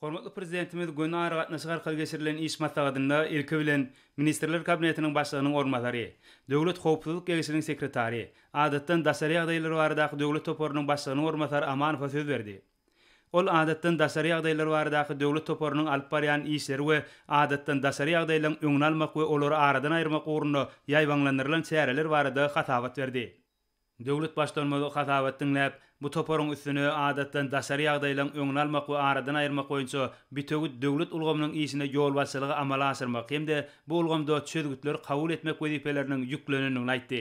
Hormatly Prezidentimiz göni aragatnaşyk arkaly geçirilen iş maslahatynda, ilki bilen, Ministrler Kabinetiniň Başlygynyň orunbasary, Döwlet howpsuzlyk geňeşiniň sekretary, Adatdan daşary ýagdaýlar baradaky döwlet toparynyň başlygynyň orunbasary Amanowa söz berdi. Ol Adatdan daşary ýagdaýlar baradaky döwlet toparynyň alyp barýan işleri we adatdan daşary ýagdaýlaň öňüni almak we olary aradan aýyrmak ugrunda ýaýbaňlandyrylan çäreler barada hasabat berdi. Döwlet Baştutanymy hasabat diňläp, bu toparyň üstüne adatdan daşary ýagdaýlaryň öňüni almak we aradan aýyrmak boýunça bütewi döwlet ulgamynyň işine ýolbaşçylygy amala aşyrmak hem-de bu ulgamda çözgütleri kabul etmek wezipeleriniň ýüklenendigini aýtdy.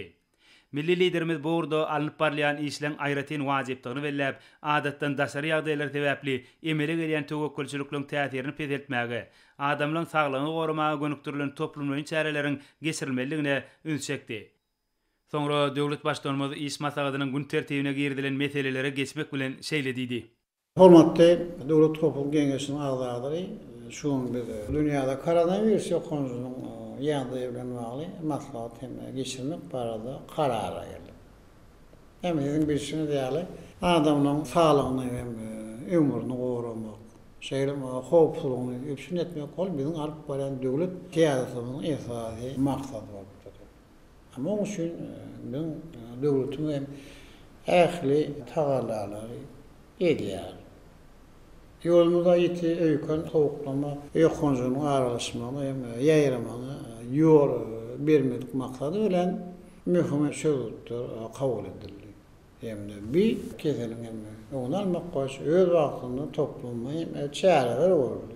Milli Liderimiz bu ugurda alnyp barylýan işleň aýratyn wajypdygyny belläp, adatdan daşary ýagdaýlar sebäpli emele gelýän töwekgelçilikleriň täsirini peseltmäge, adamlaryň saglygyny goramaga gönükdirilen toplumlaýyn çäreleriň geçirilmelidigine üns çekdi. Soňra döwlet Baştutanymyz iş maslahatynyň gün tertibine girizilen meselelere geçmek bilen şeýle diýdi. Hormatly Döwlet howpsuzlyk geňeşiniň agzalary, şu gün biz dünýäde koronawirus ýokanjynyň ýagdaýy bilen bagly maslahat hem geçirmek barada karara geldik. Hem siziň bilşiňiz ýaly, adamlaryň saglygyny hem ömrüni goramak, şeýle hem howpsuzlygyny üpjün etmek ol biziň alyp barýan döwlet syýasatymyzyň esasy maksady bolup durýar. Munuň üçin biziň döwletimiz hem ähli tagallalary edýär. Ýolumyzda ýiti öýken sowuklama ýokanjynyň aralaşmagyna hem ýaýramagyna ýol bermedik maksady bilen möhüm çözgütler kabul edildi hem-de bi keseliň hem öňüni almak boýunça öz wagtynda toplumly hem çäreler görüldi.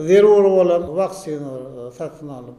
Zerur bolan waksinalar satyn alyp,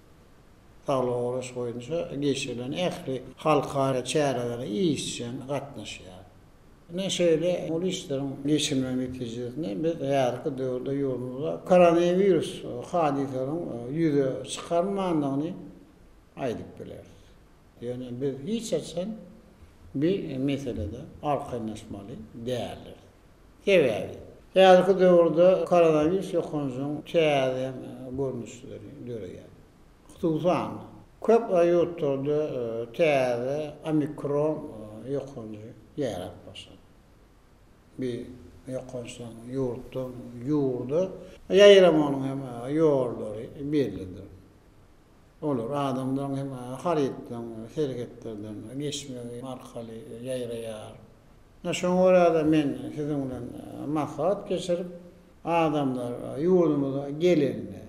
saglygy goraýyş boýunça geçirilen ähli halkara çärelere işjeň gatnaşýar. Ine, şeýle uly işleriň geçirilmegi netijesinde biz häzirki döwürde ýurdumyzda koronawirus hadysasynyň ýüze çykarmandygyny aýdyp bileris. Ýöne biz hiç haçan bir meselede arkaýynlaşmaly däldiris. Sebäbi. Häzirki döwürde koronawirus ýokanjyň täze görnüşleri döreýär. Hususan, köp ýurtlarda täze omikron ýokanjy ýaýrap başlady. Bu ýokançlaryň ýurtdan ýurda ýaýramagynyň hem ýollary bellidir. Olar adamlaryň hem harytlaryň serhetlerden geçmegi arkaly ýaýraýar. Ine şoňa görä-de men siziň bilen maslahat geçirip, adamlar ýurdumyza gelende,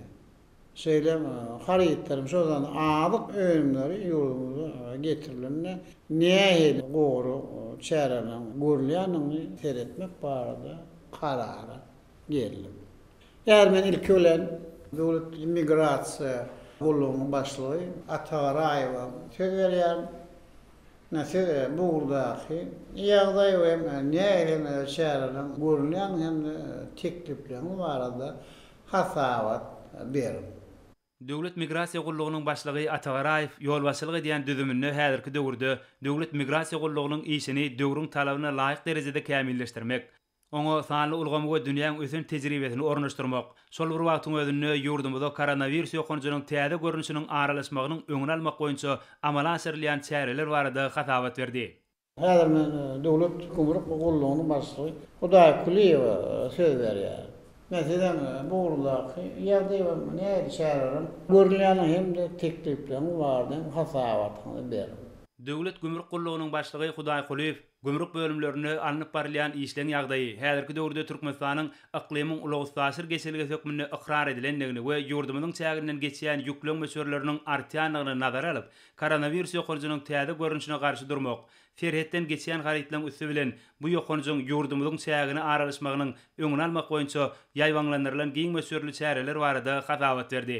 şeýle hem harytlarymyz, şol sanda azyk önümleri ýurdumyza getirilende nähili gorag çäreleriň görülýändigini seretmek barada karara geldim. Häzir men ilki bilen Döwlet migrasiýa gullugynyň başlygy Ata Garaýewa söz berýärin. Ine, siz bu ugurdaky ýagdaý we nähili çäreleriň görülýändigini hem-de teklipleriniz barada hasabat beriň. Döwlet migrasiýa gullugynyň başlygy Ata Garaýew ýolbaşçylyk edýän düzüminde häzirki döwürde Döwlet migrasiýa gullugynyň işini döwrüň talabyna laýyk derejede kämilleşdirmek, Oňa sanly ulgamy we dünýäň ösen tejribesini ornaşdyrmak, şol bir wagtyň özünde ýurdumyza koronawirus ýokanjynyň täze görnüşiniň aralaşmagynyň öňüni almak boýunça amala aşyrylýan çäreler barada hasabat berdi. Häzir men Döwlet gümrük gullugynyň başlygy Hudaý Kuliýewe söz berýärin. Men sizem bu ugurdaky ýagdaýyň nähili çäreleriň görülýändigini hem-de teklipleriň barada hem hasabatyňyzy beriň. Döwlet gümrük gullugynyň başlygy Hudaý Kuliýew Gümrük bölümlerinde alnyp barylýan işleň ýagdaýy häzirki döwürde Türkmenistanyň yklymyň ulag-üstaşyr geçelgesi hökmünde ykrar edilendigini we ýurdumyzyň çäginden geçýän ýükleň möçberleriniň artýandygyny nazara alyp, koronawirus ýokanjynyň täze görnüşine garşy durmak, serhetden geçýän harytlaryň üsti bilen bu ýokanjyň ýurdumyzyň çägine aralaşmagynyň öňüni almak boýunça ýaýbaňlandyrylan giň möçberli çäreler barada hasabat berdi.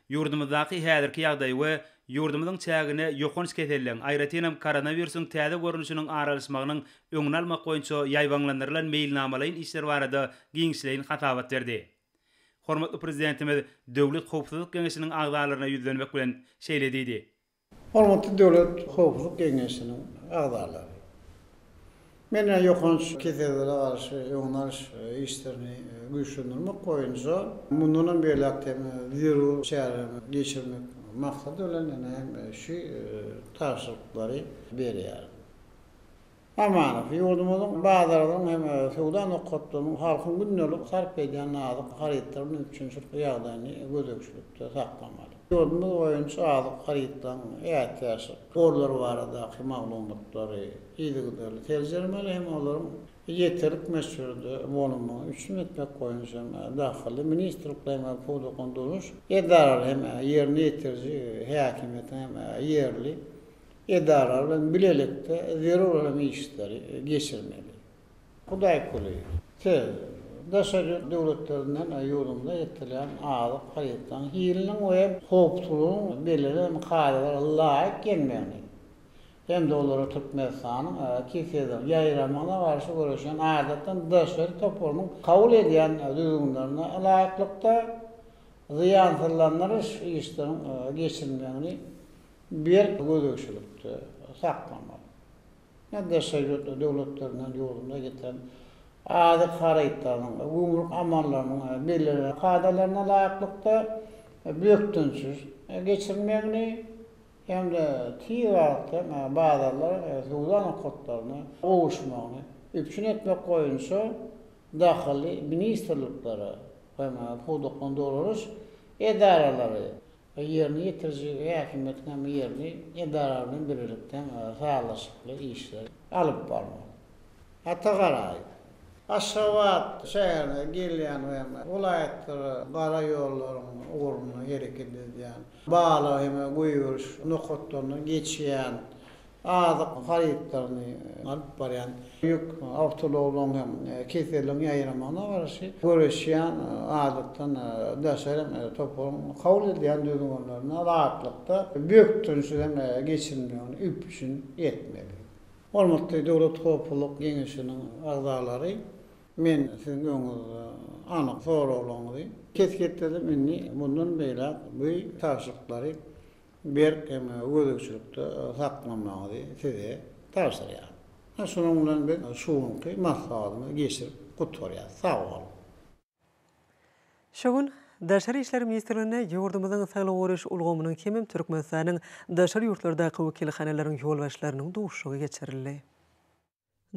Ýurdumyzdaky häzirki ýagdaý we ýurdumyzyň çägine ýokanç keselligiň, aýratynam koronawirusyň täze görnüşiniň aralaşmagynyň öňüni almak boýunça ýaýbaňlandyrylan meýilnamalaýyn işler barada giňişleýin hasabat berdi. Hormatly Prezidentimiz Döwlet howpsuzlyk geňeşiniň agzalaryna ýüzlenmek bilen, şeýle diýdi, Hormatly Döwlet howpsuzlyk geňeşiniň agzalary! Men ýokanç kesellere garşy öňüni alyş işlerini güýçlendirmek boýunça mundan hem beýläk-de hem zerur çäreleri geçirmek maksady bilen ýene hem şu tabşyryklary berýärin. Amanow, ýurdumyzyň bazarlarynyň hem söwda nokatlarynyň halkyň gündelik sarp edýän nazik harytlarynyň üpjünçilikli ýagdaýyny gözegçilikde saklamaly. Ýurdumyz boýunça azyk harytlaryň ätiýaçlyk gorlary baradaky maglumatlary yzygiderli seljermeli hem olaryň ýeterlik möçberde bolunmagyny üpjün etmek boýunça hem dahyly ministrlikleriň we pudaklaýyn durmuş edaralary hem ýerine ýetiriji häkimiýetiň hem ýerli Edaralar bilen bilelikde zerur bolan işleri geçirmeli. Hudaýkuly, siz daşary ýurt döwletlerinden ýurdumyza eltilýän azyk harytlarynyň hiliniň we howpsuzlygynyň bellenen kadalara laýyk gelmegini hem-de olara Türkmenistanyň KISED-iň, Ýaýramagyna garşy göreşýän adatdan daşary toparynyň kabul edýän düzgünlerine laýyklykda zyýansyzlandyryş işleriniň geçirilmegini Berk gözegçilikde saklamak, ýa daşary ýurtly döwletlerinden ýurdumyza getiren azyk harytlarynyň we gümrük amallarynyň bellenen kadalaryna laýyklykda bökdençsiz geçirilmegini hem-de tiz wagtda bazarlar we söwda nokatlaryna gowuşmagyny üpjün etmek boýunça dahyly ministrliklere we pudaklaryny dolanyş edaralary we ýerine ýetiriji häkimiýetiň hem ýerli edaralary bilen birlikde sazlaşykly işler alyp barmak. Hata garaýyp, Aşgabat şäherine gelýän we welaýatlara gara ýollaryň ugrunda hereket edýän, Bala hem-ä goýberiş nokatlaryndan geçýän azyk harytlaryny alyp barýan ýük awtoulaglaryň hem keseliň ýaýramagyna garşy göreşýän, adatdan daşary hem toparyň kabul edýän düzgünlerine laýyklykda bökdençsiz hem geçirilmegini üpjün etmeli. Hormatly Döwlet howpsuzlyk geňeşiniň agzalary, men siziň öňüňizde anyk soraglaryňyzy kesgitledim, indi mundan beýläk bu tabşyryklary berk hem gözegçilikde saklamagyňyzy size tabşyrýaryn. Hä, şunuň bilen biz şu günki maslahatymyzy geçirip gutgarýarys. Sag boluň! Şu gün Daşary işler ministrliginde ýurdumyzyň saglygy goraýyş ulgamynyň hemem Türkmenistanyň daşary ýurtlardaky wekilhanalaryň ýolbaşçylarynyň duşuşygy geçirildi.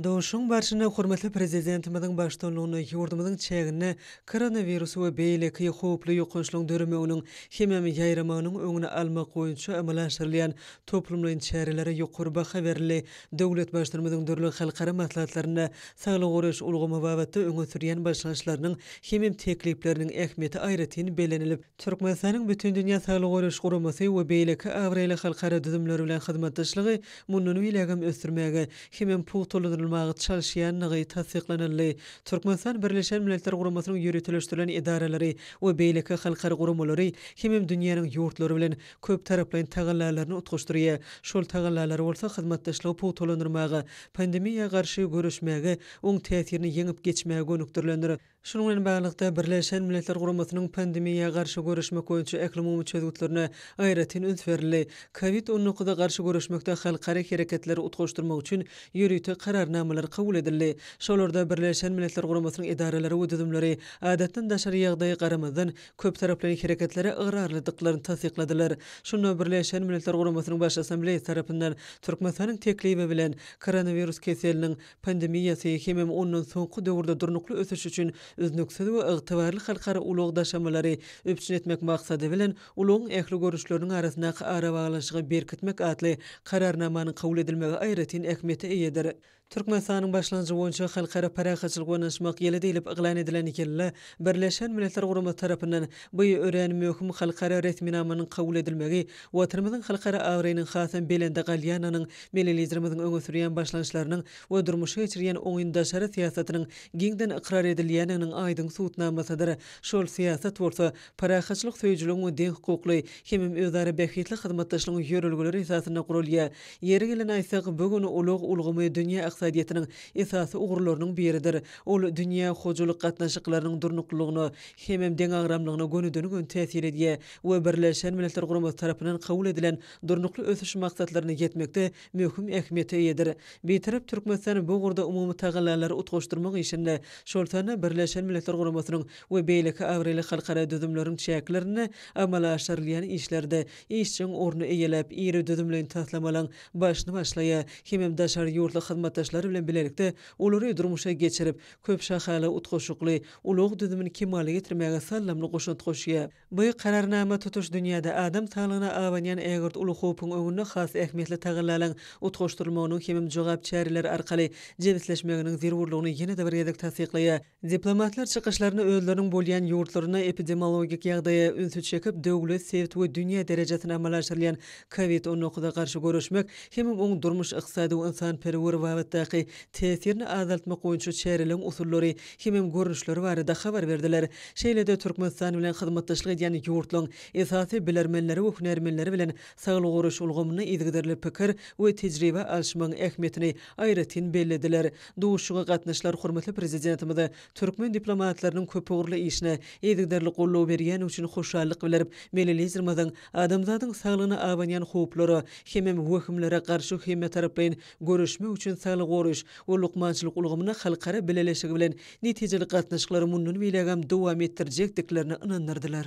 Duşuşygyň barşynda hormatly Prezidentimiziň baştutanlygynda ýurdumyzyň çäginde koronawirus we beýleki howply ýokançlaryň döremeginiň hemem ýaýramagynyň öňüni almak boýunça amala aşyrylýan toplumlaýyn çärelere ýokary baha berildi, döwlet Baştutanymyzyň dürli halkara maslahatlarynda saglygy goraýyş ulgamy babatda öňe sürýän başlangyçlarynyň hemem teklipleriniň ähmiýeti aýratyn bellenilip, Türkmenistanyň Bütindünýä Saglygy Goraýyş Guramasy we beýleki abraýly halkara düzümleri bilen hyzmatdaşlygy mundan beýlägem ösdürmäge hemem pugtalandyrylmaga çalyşýandygy tassyklanyldy. Türkmenistan Birleşen Milletler Guramasynyň ýöriteleşdirilen edaralary we beýleki halkara guramalary hemem dünýäniň ýurtlary bilen köptaraplaýyn tagallalaryny utgaşdyrýar, şol tagallalary bolsa hyzmatdaşlygy pugtalandyrmaga, pandemiýa garşy göreşmäge, oň täsirini ýeňip geçmäge gönükdirilendir. Şunuň bilen baglylykda, Birleşen Milletler Guramasynyň pandemiýa garşy göreşmek boýunça ählumumy çözgütlerine aýratyn üns berildi. Kowid on dokuza garşy göreşmekde halkara hereketleri utgaşdyrmak üçin ýörite kararnamalar kabul edildi. Şolarda Birleşen Milletler Guramasynyň edaralary we düzümleri adatdan daşary ýagdaýa garamazdan, köptaraplaýyn hereketlere ygrarlydyklaryny tassykladylar. Şunda Birleşen Milletler Guramasynyň Baş Assambleýasy tarapyndan Türkmenistanyň teklibi bilen koronawirus keseliniň pandemiýasy hemem ondan soňky döwürde durnukly ösüş üçin üznüksiz we ygtybarly halkara ulag daşamalary üpjün etmek maksady bilen, ulagyň ähli görnüşleriniň arasyndaky arabaglanyşygy berkitmek atly Kararnamanyň kabul edilmegi aýratyn ähmiýete eýedir. Türkmenistanyň başlangyjy boýunça Halkara parahatçylyk we ynanyşmak ýyly diýlip yglan edilen ýylda Birleşen Milletler Guramasy tarapyndan bu örän möhüm halkara resminamanyň kabul edilmegi Watanymyzyň halkara abraýynyň hasam belende galýandygynyň, milli Liderimiziň öňe sürýän başlangyçlarynyň we durmuşa geçirýän oňyn daşary syýasatynyň giňden ykrar edilýändiginiň aýdyň subutnamasydyr. Şol syýasat bolsa parahatçylyk söýüjiligiň we deňhukukly hemem özara bähbitli hyzmatdaşlygyň ýörelgeleri esasynda guralýar. Ýeri gelende aýtsak, bu gün ulag ulgamy dünýä ykdysadyýetiniň esasy ugurlarynyň biridir. Ol dünýä hojalyk gatnaşyklarynyň durnuklylygyna hemem deňagramlygyna gönüden-göni täsir edýär we Birleşen Milletler Guramasy tarapyndan kabul edilen Durnukly ösüş maksatlaryna ýetmekde möhüm ähmiýete eýedir. Bitarap Türkmenistan bu ugurda umumy tagallalary utgaşdyrmak işinde, şol sanda Birleşen Milletler Guramasynyň we beýleki abraýly halkara düzümleriň çäklerinde amala aşyrylýan işlerde işjeň orny eýeläp, iri düzümleýin taslamalaryň başyny başlaýar hemem daşary ýurtly hyzmatdaşlar bilen bilelikde Olary durmuşa geçirip, köp şahaly, utgaşykly ulag düzümini kemala getirmäge saldamly goşant goşýar. Bu Kararnama tutuş dünýäde adam saglygyna abanýan ägirt uly howpuň öňünde has ähmiýetli tagallalaryň utgaşdyrylmagynyň hemem jogap çäreleri arkaly jebisleşmeginiň zerurlygyny ýene-de bir gezek tassyklaýar. Diplomatlar çykyşlaryny özleriniň bolýan ýurtlarynda epidemiologik ýagdaýa ünsi çekip, döwlet, sebit we dünýä derejesinde amala aşyrylýan Covid on dokuza garşy göreşmek hemem oň durmuş, ykdysady we ynsanperwer babatdaky täsirini azaltmak boýunça çäreleriň usullary hemem görnüşleri barada habar berdiler. Şeýle-de Türkmenistan bilen hyzmatdaşlyk edýän ýurtlaryň esasy bilermenleri we hünärmenleri bilen saglygy goraýyş ulgamynda yzygiderli pikir we tejribe alyşmagyň ähmiýetini aýratyn bellediler. Duşuşyga gatnaşyjylar hormatly Prezidentimize türkmen diplomatlarynyň köpugurly işine yzygiderli goldaw berýändigi üçin hoşallyk bildirip, Milli Liderimiziň adamzadyň saglygyna abanýan howplara hemem wehimlere garşy hemmetaraplaýyn göreşmek üçin saglygy goraýyş we lukmançylyk ulgamyna halkara bileleşigi bilen netijeli gatnaşyklary mundan beýlägem dowam etdirjekdiklerine ynandyrdylar.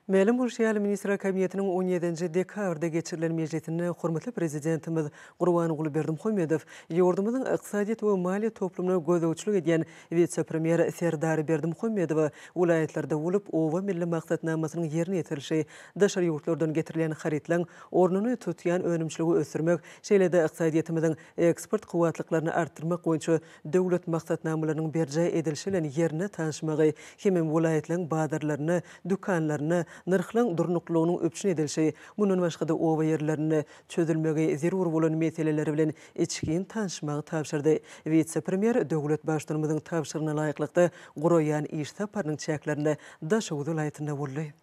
Mälim bolşy ýaly, Ministrler Kabinetiniň on ýedinji dekabrda geçirilen mejlisinde hormatly Prezidentimiz Gurbanguly Berdimuhamedow ýurdumyzyň ykdysadyýet we maliýe toplumyna gözegçilik edýän wise-premýer Serdar Berdimuhamedowa welaýatlarda bolup, Oba milli maksatnamasynyň ýerine ýetirilişi, daşary ýurtlardan getirilýän harytlaryň ornuny tutýan önümçiligi ösdürmek, şeýle-de ykdysadyýetimiziň eksport kuwwatlyklaryny artdyrmak boýunça döwlet maksatnamalarynyň berjaý edilişi bilen ýerine tanyşmagy hemem welaýatlaryň bazarlarynda, dükanlarynda nyrhlaryň durnuklylygynyň üpjün edilişi, mundan başga-da oba ýerlerinde çözülmegi zerur bolan meseleler bilen içgin tanyşmagy tabşyrdy. Wise-premýer döwlet Baştutanymyzyň tabşyrygyna laýyklykda guraýan iş saparynyň çäklerinde Daşoguz welaýatynda boldy.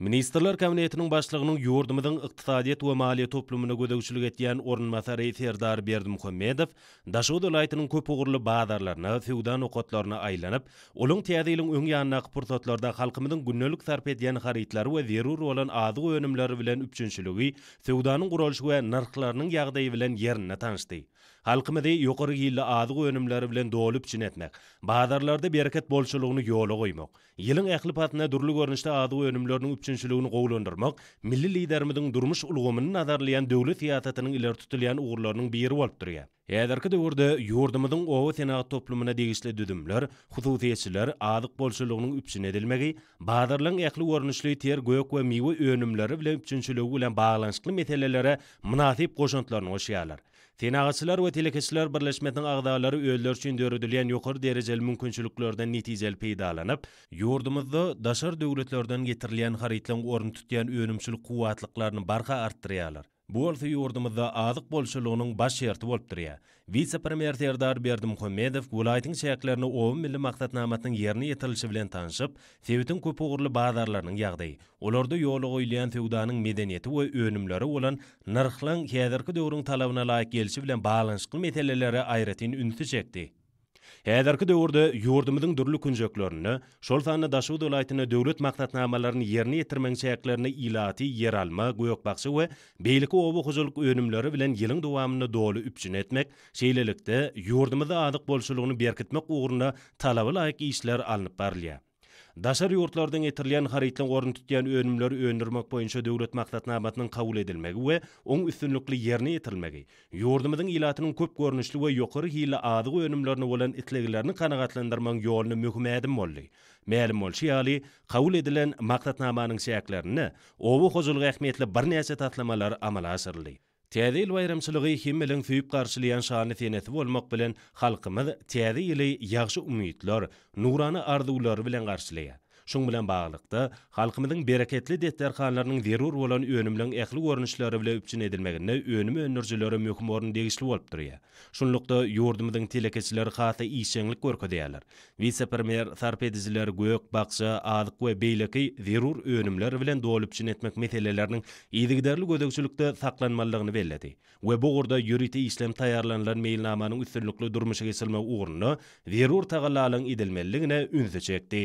Ministrler Kabinetiniň Başlygynyň ýurdumyzyň ykdysadyýet we maliýe toplumyna gözegçilik edýän orunbasary Serdar Berdimuhamedow Daşoguz welaýatynyň köp ugurly bazarlaryna, söwda nokatlaryna aýlanyp, olaň Täze ýylyň öň ýanyndaky pursatlarda halkymyzyň gündelik sarp edýän harytlary we zerur bolan azyk önümleri bilen üpjünçiligi, söwdanyň guralyşy we nyrhlarynyň ýagdaýy bilen ýerinde tanyşdy. Halkymyzy ýokary hilli azyk önümleri bilen doly üpjün etmek, bazarlarda bereket bolçulygyny ýola goýmak, Ýylyň ähli pasynda dürli görnüşde azyk önümleriniň üpjünçiligini gowulandyrmak milli Liderimiziň durmuş ulgamyny nazarlaýan döwlet syýasatynyň ileri tutulýan ugurlarynyň biri bolup durýar. Häzirki döwürde ýurdumyzyň oba senagat toplumyna degişli düzümler, hususyýetçiler, azyk bolçulygynyň üpjün edilmegi, bazarlaryň ähli görnüşli ter gök we miwe önümleri bilen üpjünçiligi bilen baglanyşykly meselelere mynasyp goşantlaryny goşýarlar. Senagatçylar we telekeçiler birleşmesiniň agzalary özleri üçin döredilýän ýokary derejeli mümkinçiliklerden netijeli peýdalanyp, ýurdumyzda daşary döwletlerden getirilýän harytlaryň ornuny tutýan önümçilik kuwwatlyklaryny barha artdyrýarlar. Bu bolsa ýurdumyzda azyk bolçulygynyň baş şerti bolup durýar. Wise-premýer Serdar Berdimuhamedow welaýatyň çäklerinde Oba milli maksatnamasynyň ýerine ýetirilişi bilen tanşyp, sebitiň köpugurly bazarlarynyň ýagdaýy, olarda ýola goýulýan söwdanyň medeniýeti we önümlere bolan nyrhlaryň häzirki döwrüň talabyna laýyk gelşi bilen baglanyşykly meselelere aýratyn ünsi çekdi. Häzirki döwürde ýurdumyzyň dürli künjeklerinde, şol sanda Daşoguz welaýatynda döwlet maksatnamalaryny ýerine ýetirmegiň çäklerinde ilaty ýeralma, gök-bakja we beýleki oba hojalyk önümleri bilen ýylyň dowamynda doly üpjün etmek, şeýlelikde, ýurdumyzda azyk bolçulygyny berkitmek ugrunda talaba laýyk işler alnyp barylýar. Daşary ýurtlardan getirilýän harytlaň ornuny tutýan önümleri öndürmek boýunça döwlet maksatnamasynyň kabul edilmegi we oň üstünlikli ýerine ýetirilmegi ýurdumyzyň ilatynyň köp görnüşli we ýokary hilli azyk önümlerine bolan isleglerini kanagatlandyrmagyň ýolunda möhüm ädim boldy. Mälim bolşy ýaly, kabul edilen Maksatnamanyň çäklerinde oba hojalygy ähmiýetli birnäçe taslamalar amala aşyryldy. Täze ýyl baýramçylygy hemmeleň söýüp garşylaýan şanly senesi bolmak bilen, halkymyz Täze ýyly ýagşy umytlar, nurana arzuwlar bilen garşylaýar. Şuň bilen baglylykda, halkymyzyň bereketli desterhanlarynyň zerur bolan önümleň ähli görnüşleri bile üpjün edilmeginde önüm öndürijilere möhüm orun degişli bolup durýar. Şunlukda, ýurdumyzyň telekeçileri has-da işjeňlik görkezýärler. Wise-premýer sarp edijileri gök, bakja, azyk we beýleki zerur önümler bilen dolup-üpjün etmek meseleleriniň yzygiderli gözegçilikde saklanmalydygyny belledi we bu ugurda ýörite işlenip taýýarlanylan meýilnamanyň üstünlikli durmuşa geçirilmegi ugrunda zerur tagallalaryň edilmelidigine ünsi çekdi.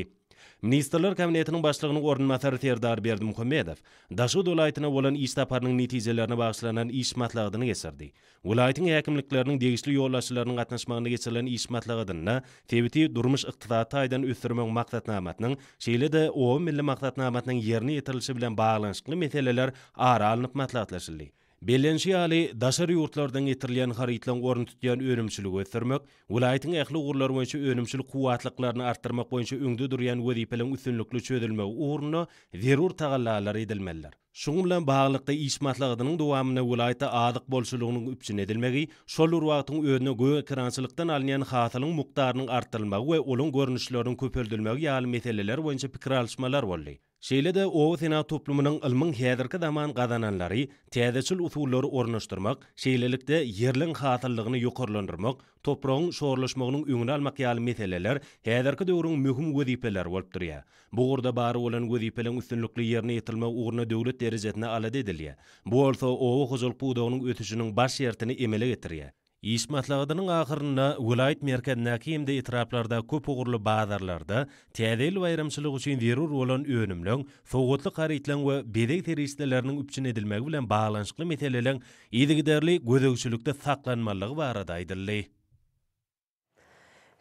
Ministrler Kabinetiniň Başlygynyň orunbasary Serdar Berdimuhamedow Daşoguz welaýatyna bolan iş saparynyň netijelerine bagyşlanan iş maslahatyny geçirdi Welaýatyň häkimlikleriniň degişli ýolbaşçylarynyň gatnaşmagynda geçirilen iş maslahatynda sebiti durmuş-ykdysady taýdan ösdürmegiň maksatnamasynyň, şeýle-de Oba milli maksatnamasynyň ýerine ýetirilişi bilen baglanyşykly meseleler ara alnyp maslahatlaşyldy. Bellenişi ýaly, daşary ýurtlardan getirilýän harytlaryň ornuny tutýan önümçiligi ösdürmek, welaýatyň ähli ugurlar boýunça önümçilik kuwwatlyklaryny artdyrmak boýunça öňde durýan wezipeleriň üstünlikli çözülmegi ugrunda zerur tagallalar edilmelidir. Şunuň bilen baglylykda, iş maslahatynyň dowamynda welaýatda azyk bolçulygynyň üpjün edilmegi, şol bir wagtyň özünde gögekerançylykdan alynýan hasylyň mukdarynyň artdyrylmagy we olaň görnüşleriniň köpeldilmegi ýaly meseleler boýunça pikir alyşmalar boldy. Şeýle-de oba senat toplumynyň ylmyň häzirki zaman gazananlary, täzeçil usullary ornaşdyrmak, şeýlelikde, ýerligiň hasyllygyny ýokarlandyrmak, topragyň şorlaşmagynyň öňüni almak ýaly meseleler häzirki döwrüň möhüm wezipeleri bolup durýar. Bu ugurda bar bolan wezipeleň üstünlikli ýerine ýetirilmegi ugrunda döwlet derejesinde alada edilýär. Bu bolsa oba hojalyk pudagynyň ösüşiniň baş şertini emele getirýär. Iş maslahatynyň ahyrynda welaýat merkezindäki hem-de etraplarda köp ugurly bazarlarda Täze ýyl baýramçylygy üçin zerur bolan önümleň, sowgatlyk harytlaryň we bezeg serişdeleriniň üpjün edilmegi bilen baglanyşykly meseleleň yzygiderli gözegçilikde saklanmalydygy barada aýdyldy.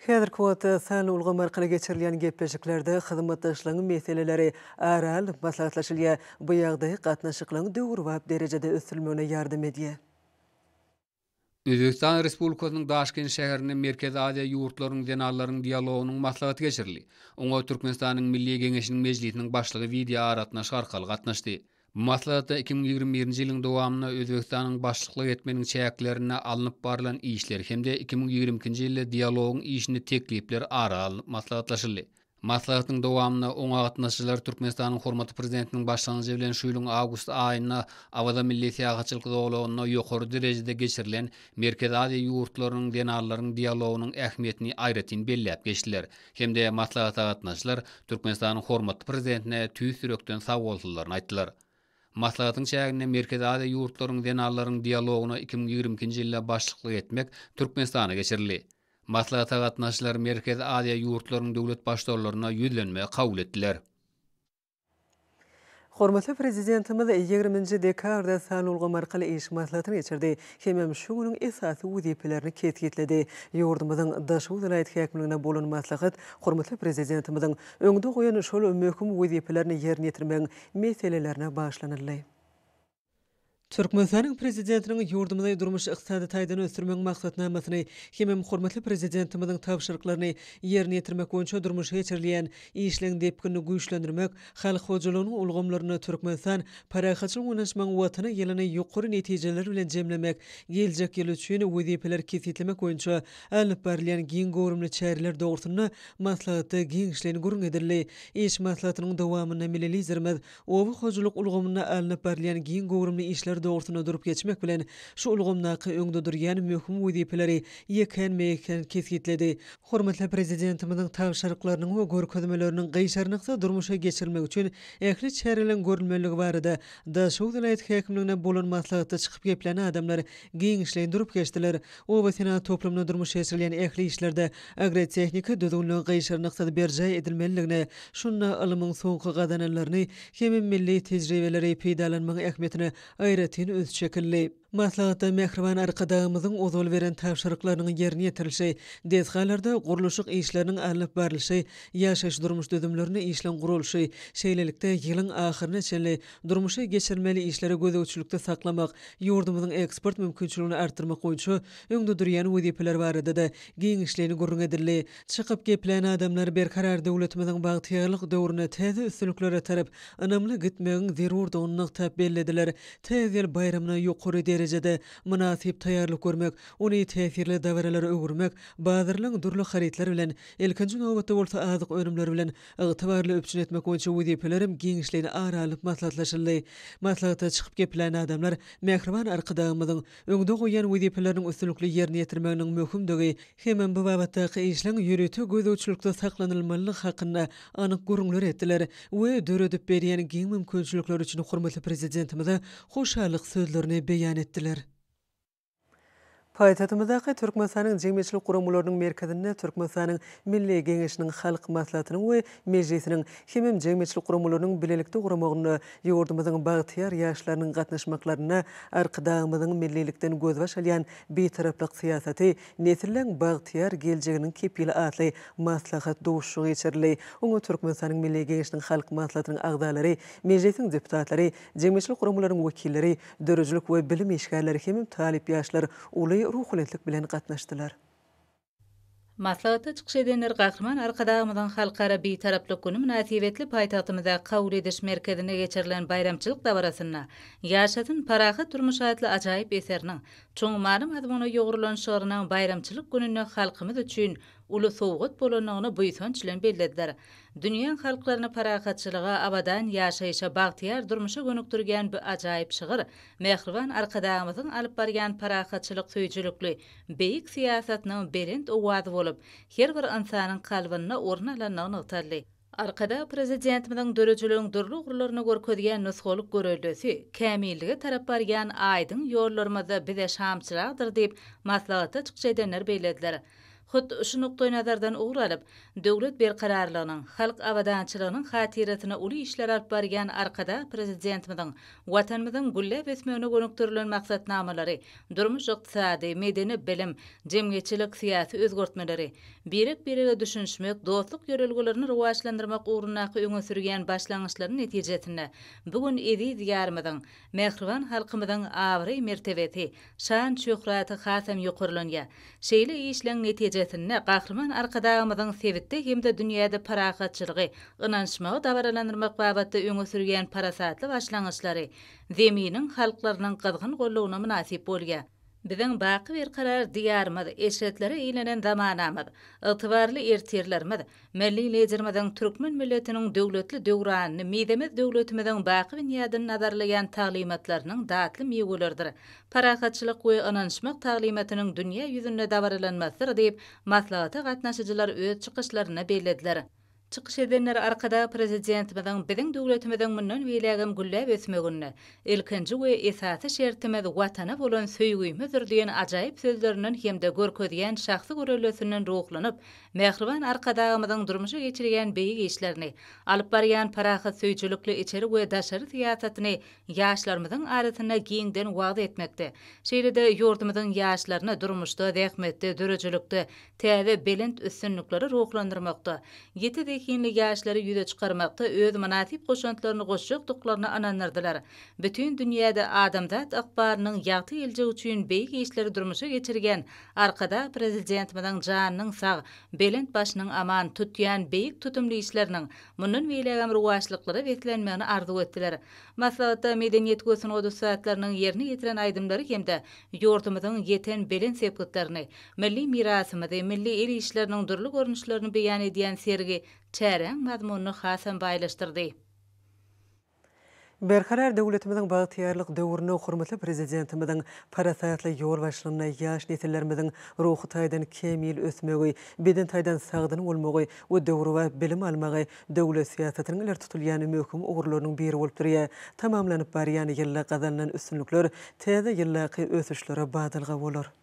Häzirki wagtda sanly ulgam arkaly geçirilýän gepleşiklerde hyzmatdaşlygyň meseleleri ara alnyp maslahatlaşylýar. Bu ýagdaý gatnaşyklygyň döwrebap derejede ösdürilmegine ýardam edýär. Özbegistan Respublikasynyň Daşkent şäherinde Merkezi Aziýa ýurtlarynyň zenanlaryň dialogynyň maslahaty geçirildi. Oňa Türkmenistanyň Milli Geňeşiniň Mejlisiniň Başlygy wideoaragatnaşyk arkaly gatnaşdy. Maslahatda iki müň ýigrimi birinji ýylyň dowamynda Özbegistanyň başlyklyk etmeginiň çäklerinde alnyp barlan işler hem-de iki müň ýigrimi ikinji ýylda dialogyň işinde teklipler ara alnyp maslahatlaşyldy. Maslahatyň dowamynda oňa gatnaşyjylar Türkmenistanyň hormatly Prezidentiniň başlangyjy bilen şu ýylyň awgust aýynda Awaza milli syýahatçylyk zolagynda ýokary derejede geçirilen Merkezi Aziýa ýurtlarynyň zenanlaryň dialogynyň ähmiýetini aýratyn belläp geçdiler. hem-de maslahata gatnaşyjylar Türkmenistanyň hormatly Prezidentine tüýs ýürekden sagbolsunlaryny aýtdylar. Maslahatyň çäginde Merkezi Aziýa ýurtlaryň zenanlaryň dialogyna iki müň ýigrimi ikinji ýylda başlyklyk etmek Türkmenistana geçirildi. Maslahata gatnaşyjylar Merkezi Aziýa ýurtlarynyň döwlet Baştutalaryna ýüzlenmegi kabul etdiler. Hormatly Prezidentimiz ýigriminji dekabrda sanulgam arkaly iş maslahatyny geçirdi hemem şu günüň esasy wezipelerini kesgitledi. Ýurdumyzyň Daşoguz welaýat häkimligine bolan maslahat hormatly Prezidentimiziň öňde goýan şol möhüm wezipelerini ýerine ýetirmegiň meselelerine bagyşlanyldy. Türkmenistanyň Prezidentiniň ýurdumyzy durmuş-ykdysady taýdan ösdürmegiň maksatnamasyny hemem hormatly Prezidentimiziň tabşyryklaryny ýerine ýetirmek boýunça durmuşa geçirilýän işleň depginini güýçlendirmek, halk hojalygynyň ulgamlarynda Türkmenistan parahatçylyk oýnaşmagyň Watany ýylyny ýokary netijeler bilen jemlemek, geljek ýyl üçin wezipeleri kesgitlemek boýunça alnyp barylýan giň göwrümli çäreler dogrusynda maslahatda giňişleýin gürrüň edildi. Iş maslahatynyň dowamynda milli Liderimiz Oba hojalyk ulgamynda alnyp barylýan giň göwrümli işler dogrusynda durup geçmek bilen, şu ulgamdaky öňde durýan möhüm wezipeleri ýekän-meýekän kesgitledi. Hormatly Prezidentimiziň tabşyryklarynyň we görkezmeleriniň gyşarnyksyz durmuşa geçirilmegi üçin ähli çäreleriň görülmeliligi barada Daşoguz welaýat häkimliginde bolan maslahatda çykyp geplän adamlar giňişleýin durup geçdiler. Oba senagat toplumynda durmuşa geçirilýän ähli işlerde agrotehniki düzgünleriň gyşarnyksyz berjaý edilmeliligine, şunda ylmyň soňky gazananlaryny hem milli tejribeleri peýdalanmagyň ähmiýetine aýratyn üns çekildi. Maslahatda mähriban Arkadagymyzyň ozal beren tabşyryklarynyň ýerine ýetirilişi, desgalarda gurluşyk işleriniň alnyp barlyşy, ýaşaýyş-durmuş düzümlerinde işleň guralyşy, şeýlelikde, ýylyň ahyryna çenli durmuşa geçirilmeli işleri gözegçilikde saklamak, ýurdumyzyň eksport mümkinçiligini artdyrmak boýunça öňde durýan wezipeler barada-da giňişleýin gürrüň edildi. Çykyp geplän adamlar Berkarar döwletimiziň bagtyýarlyk döwrüne täze üstünliklere tarap ynamly gitmegiň zerurdygyny nygtap bellediler. Täze ýyl baýramyna ýokary derejede, mynasyp taýýarlyk görmek, ony täsirli dabaralara öwürmek, bazarlaryň dürli harytlar bilen, ilkinji nobatda bolsa azyk önümleri bilen Ygtybarly üpjün etmek boýunça wezipeler hem giňişleýin ara alnyp maslahatlaşyldy. Maslahata çykyp geplän adamlar mähriban Arkadagymyzyň öňde goýýan wezipeleriniň üstünlikli ýerine ýetirmeginiň möhümdigi hemem bu babatdaky işleň ýörite gözegçilikde saklanylmalydygy hakynda anyk gürrüňler etdiler we döredip berýän giň mümkinçilikleri üçin hormatly Prezidentimize hoşallyk sözlerini beýan etdiler. Paýtagtymyzdaky Türkmenistanyň jemgyýetçilik guramalarynyň merkezinde Türkmenistanyň Milli Geňeşiniň Halk Maslahatynyň we Mejlisiniň hemem jemgyýetçilik guramalarynyň bilelikde guramagynda ýurdumyzyň bagtyýar ýaşlarynyň gatnaşmaklarynda Arkadagymyzyň millilikden gözbaş alýan Bitaraplyk syýasaty, nesilleň bagtyýar geljeginiň kepili atly maslahat duşuşygy geçirildi. Oňa Türkmenistanyň Milli Geňeşiniň Halk Maslahatynyň agzalary, Mejlisiň deputatlary, jemgyýetçilik guramalaryň wekilleri, Döredijilik we bilim işgärleri hem talyp ýaşlar uly ruhubelentlik bilen gatnaşdylar. Maslahatda çykyş edenler Gahryman Arkadagymyzyň Halkara Bitaraplyk güni mynasybetli paýtagtymyzdaky kabul ediş merkezinde geçirilen baýramçylyk dabarasynda Ýaşasyn parahat durmuş atly ajaýyp eseriniň çuň many-mazmuna ýugrulan şygrynyň baýramçylyk gününde halkymyz üçin uly sowgat bolandygyny buýsanç bilen bellediler. Dünýäň halklaryny parahatçylyga, abadan ýaşaýşa, bagtyýar durmuşa gönükdirgän bu ajaýyp şygyr Mähriban Arkadagymyzyň alyp barýan parahatçylyk söýüjilikli beýik syýasatynyň belent owazy bolup, her bir ynsanyň kalbynda orun alandygy nygtaldy. Arkadag Prezidentimiziň döredijiligiň dürli ugurlaryny görkezýän nusgalyk göreldesi, kämillige tarap barýan aýdyň ýollarymyzda bize şamçyragdyr diýip, maslahatda çykjy edenler bellediler. Hut şu nukdaýnazardan ugur alyp, döwlet berkararlygynyň, halk abadançylygynyň hatyrasyna uly işler alyp barýan Arkadag Prezidentimiziň Watanymyzyň gülläp ösmegine gönükdirilen maksatnamalary, durmuş-ykdysady, medeni-bilim, jemgyýetçilik-syýasy özgertmeleri, birek-birege düşünişmek, dostluk ýörelgelerini rowaçlandyrmak ugrundaky öňe sürýän başlangyçlary netijesinde bu gün eziz Diýarymyzyň, mähriban halkymyzyň abraý-mertebesi, şan-şöhraty hasam ýokarlanýar. Şeýle işleň netijesinde Gahryman Arkadagymyzyň sebitde hem-de dünýäde parahatçylygy, ynanyşmagy dabaralandyrmak babatda öňe sürýän parasatly başlangyçlary Zeminiň halklarynyň gyzgyn goldawyna mynasyp bolýar. Biziň baky berkarar Diýarymyz, eşretlere eýlenen zamanamyz, ygtybarly ertirlerimiz, Milli Liderimiziň türkmen milletiniň döwletli döwranyny, mizemez döwletimiziň baky binýadyny nazarlaýan taglymatlarynyň datly miweleridir, parahatçylyk we ynanyşmak taglymatynyň dünýä ýüzünde dabaralanmasydyr diýip, maslahata gatnaşyjylar öz çykyşlarynda bellediler. Çykyş edenler Arkadag Prezidentimiziň biziň döwletimiziň mundan beýlägem gülläp ösmeginde ilkinji we esasy şertimiz Watana bolan söýgimizdir diýen ajaýyp sözlerinden hem-de görkezýän şahsy görellesinden ruhlanyp, Mähriban Arkadagymyzyň durmuşa geçirýän beýik işlerini, alyp barýan parahatsöýüjilikli içeri we daşary syýasatyny ýaşlarymyzyň arasynda giňden wagyz etmekde, şeýle-de ýurdumyzyň ýaşlaryny durmuşda, zähmetde, döredijilikde täze belent üstünliklere ruhlandyrmakda, ýiti zehinli ýaşlary ýüze çykarmakda öz mynasyp goşantlaryny goşjakdyklaryna ynandyrdylar. Bütin dünýäde adamzat ykbalynyň ýagty geljegi üçin beýik işleri durmuşa geçirýän Arkadag Prezidentimiziň janynyň sag, belent başynyň aman, tutýan beýik tutumly işleriniň mundan beýlägem rowaçlyklara beslenmegini arzuw etdiler. Maslahatda medeniýet we sungat ussatlarynyň ýerine ýetiren aýdymlary hem-de ýurdumyzyň ýeten belent sepgitlerini, milli mirasymyzy, milli el işleriniň dürli görnüşlerini beýan edýän sergi çäräň mazmunyny hasam baýlaşdyrdy. Berkarar döwletimiziň bagtyýarlyk döwründe hormatly Prezidentimiziň parasatly ýolbaşçylygynda ýaş nesillerimiziň ruhy taýdan kämil ösmegi, beden taýdan sagdyn bolmagy we döwrebap bilim almagy döwlet syýasatynyň ileri tutulýan möhüm ugurlarynyň biri bolup durýar. Tamamlanyp barýan ýylda gazanylan üstünlikler täze ýyldaky ösüşlere badalga bolar.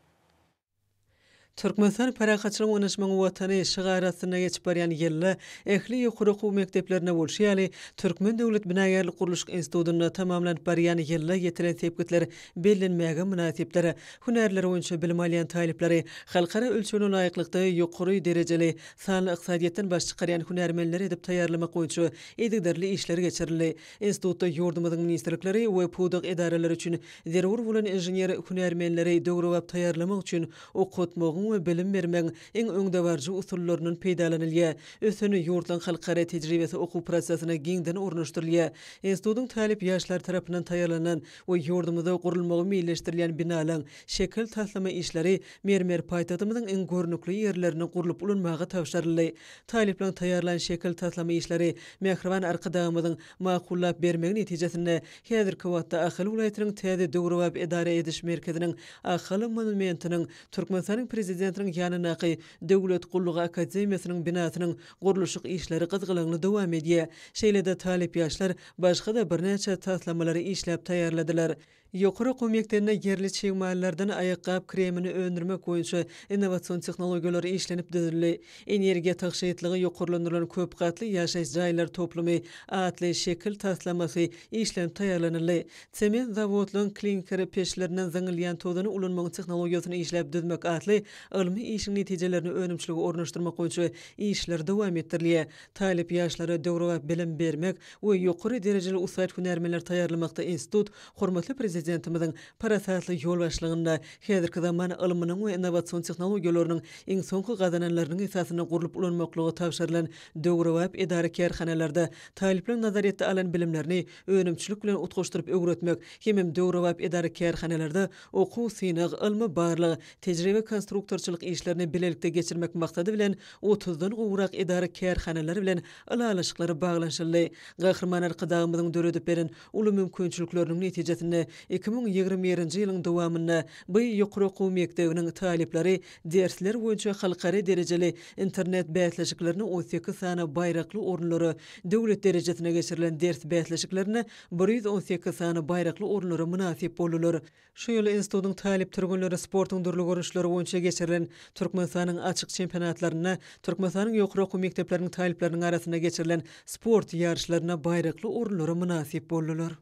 Türkmenistan parahatçylygyň oňaşmagyň Watany şygary astynda geçip barýan ýylda ähli ýokary okuw mekdeplerinde bolşy ýaly, Türkmen döwlet binagärlik-gurluşyk institutynda tamamlanyp barýan ýylda ýetilen sepgitler bellenmäge mynasypdyr. Hünärler boýunça bilim alýan talyplary halkara ölçegine laýyklykda ýokary derejeli, sanly ykdysadyýetden baş çykarýan hünärmenler edip taýýarlamak boýunça yzygiderli işler geçirildi. Institutda ýurdumyzyň ministrlikleri we pudak edaralary üçin zerur bolan inžener hünärmenleri döwrebap taýýarlamak üçin okatmagyň we bilim bermegiň iň öňdebaryjy usullaryndan peýdalanylýar. Ösen ýurtlaryň halkara tejribesi okuw prosesine giňden ornaşdyrylýar. Institutyň talyp ýaşlary tarapyndan taýýarlanan we ýurdumyzda gurulmagy meýilleşdirilýän binalaryň şekil-taslama işleri mermer paýtagtymyzyň iň görnükli ýerlerinde gurlup ulanmaga tabşyryldy. Talyplaryň taýýarlan şekil taslama işleri Mähriban Arkadagymyzyň makullap bermegi netijesinde häzirki wagtda Ahal welaýatynyň täze döwrebap edara ediş merkeziniň Ahal monumentiniň, Türkmenistanyň Prezidentiniň ýanyndaky Döwlet gullugy akademiýasynyň binasynyň gurluşyk işleri gyzgalaňly dowam edýär. Şeýle-de talyp ýaşlar başga-da birnäçe taslamalary işläp taýýarladylar. Ýokary okuw mekdebinde ýerli çig mallardan aýakgap kremini öndürmek boýunça innowasion tehnologiýalar işlenip düzüldi. Energiýa tygşytlygy ýokarlandyrylan köp gatly ýaşaýyş jaýlar toplumy atly şekil taslamasy işlenip taýýarlanyldy. Sement zawodlaryň klinker peçlerinden zyňylýan tozany ulanmagyň tehnologiýasyny işläp düzmek atly ylmy işiň netijelerini önümçilige ornaşdyrmak boýunça işler dowam etdirilýär. Talyp ýaşlara döwrebap bilim bermek we ýokary derejeli ussat hünärmenleri taýýarlamakda institut hormatly Prezidentimiziň parasatly ýolbaşçylygynda häzirki zaman ylmynyň we innowasion tehnologiýalarynyň iň soňky gazananlarynyň esasynda gurlup ulanmaklyga tabşyrylan döwrebap edara-kärhanalarda talyplaryň nazaryýetde alan bilimlerini önümçilik bilen utgaşdyryp öwretmek hemem döwrebap edara-kärhanalarda Okuw, synag, ylmy-barlag, tejribe-konstruktorçylyk işlerini bilelikde geçirmek maksady bilen otuzdan gowrak edara-kärhanalar bilen ylalaşyklary baglanyşyldy. Gahryman Arkadagymyzyň döredip beren uly mümkinçilikleriniň netijesinde iki müň ýigrimi birinji ýylyň dowamynda by ýokary okuw mekdebiniň talyplary dersler boýunça halkara derejeli internet bäsleşiklerine on sekiz sany baýrakly orunlara, döwlet derejesine geçirilen ders bäsleşiklerine bir ýüz on sekiz sany baýrakly orunlara mynasyp boldular. Şu ýyl institutyň talyp türgenleri sportuň dürli görnüşleri boýunça geçirilen Türkmenistanyň açyk çempionatlarynda, Türkmenistanyň ýokary okuw mekdepleriniň talyplarynyň arasynda geçirilen sport ýaryşlarynda baýrakly orunlara mynasyp boldular.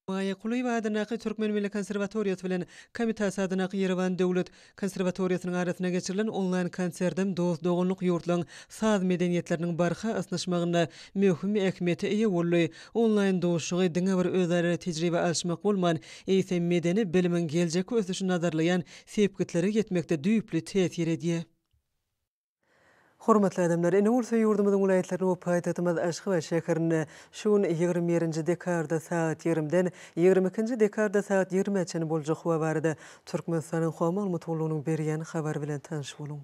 Maýa Kulyýewa adyndaky Türkmen milli konserwatoriýasy bilen Komitas adyndaky Ýerewan döwlet Konserwatoriýasynyň arasynda geçirilen onlaýn konsertden dost-doganlyk ýurtlaryň saz medeniýetleriniň barha ysnyşmagynda möhüm ähmiýete eýe boldy. Onlaýn duşuşygy diňe bir özara tejribe alyşmak bolman, eýsem medeni bilimiň geljekki ösüşini nazarlaýan sepgitlere ýetmekde düýpli täsir edýär. Hormatly adamlar, ine bolsa ýurdumyzyň welaýatlaryny we paýtagtymyz Aşgabat şäherinde şu gün ýigrimi birinji dekabrda sagat ýigrimden ýigrimi ikinji dekabrda sagat ýigrimä çenli boljak howa barada Türkmenistanyň Howa maglumat gullugynyň berýän habary bilen tanyş boluň.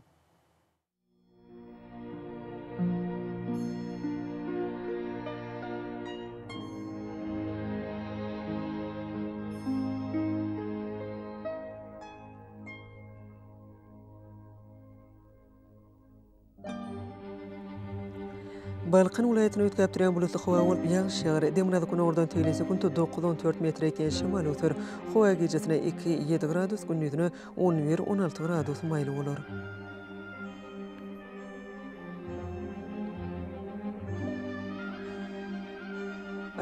Balkan welaýatyny üýtgäp durýan bulutly howa bolup, ýagyş ýagar. Demirgazyk günordan tegelýän sekuntda dokuz, on dört metr ýetýän şemal öser. Howa gijesine iki, ýedi gradus, gündiziňe on bir, on alty gradus maýly bolar.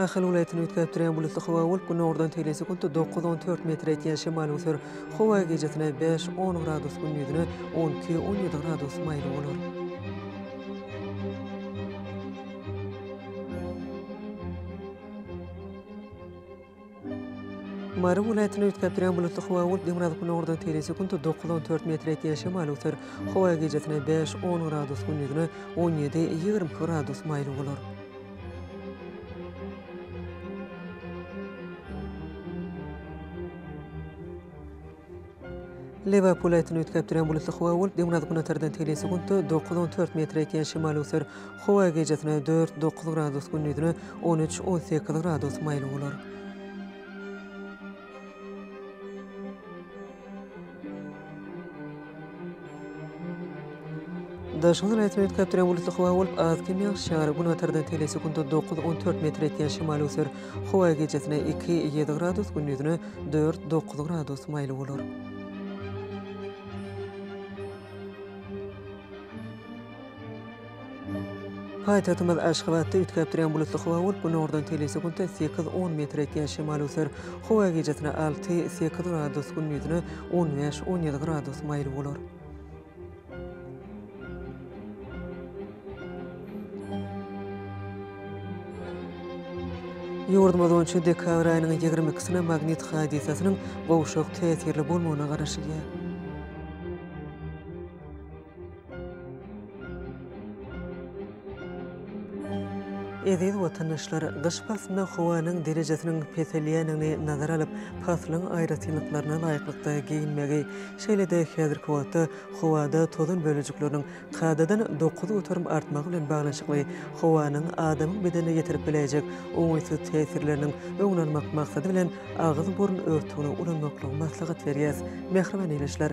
Ahal welaýatyny üýtgäp durýan bulutly howa bolup, günordan tegelýän sekuntda dokuz, on dört metr etýän şemal öser. Howa gijesine bäş, on gradus, gündiýzine on iki, on ýedi gradus maýyl bolar. Mary welaýatyny üýtgäpdirýän bulutly howa bolup, demirgazyk-günordan teýin sekuntda dokuz, on dört metr ýetýän şemal öser. Howa gijesine bäş, on gradus, gündizine on ýedi, ýigrimi iki gradus maýyl bolar. Lebap welaýatyny üýtgäp durýan bulutly howa bolup, demirgazygünortadan teli sekuntda dokuz, on dört metr ýetýän şemal öser. Howa gijesine dört, dokuz gradus, gündizine on üç, on sekiz gradus maýyl bolar. Daşyň razwedka perewulisi howa bolup, az kem ýagyş ýagar, günbatardan tele sekunta dokuz, on dört metr etýän şemal öser. Howa gijesine iki, ýedi gradus, gündizine dört, dokuz gradus maýyl bolar. Paýtagtymyz Aşgabatda üýtgäp durýan bulutly howa bolup, günordan tegelýän sekuntda sekiz, on metr ýetýän şemal öser. Howa gijesine alty, sekiz gradus, gündiziňe on bäş, on ýedi gradus maýyl bolar. Ýurdumyz boýunça dekabr aýynyň ýigrimi ikisine magnit hadysasynyň gowşak täsirli bolmagyna garaşylýar. Eziz watandaşlar, gyş paslynda howanyň derejesiniň peselýändigini nazara alyp, paslyň aýratynlyklaryna laýyklykda geýinmegi, şeýle-de häzirki wagtda howada tozan bölejikleriniň kadadan dokuz göterim artmagy bilen baglanyşykly howanyň adamyň bedenine ýetirip biläýjek oňaýsyz täsirleriniň öňüni almak maksady bilen agyz-burun örtügini ulanmaklygy maslahat berýäs. Mähriban ildeşler!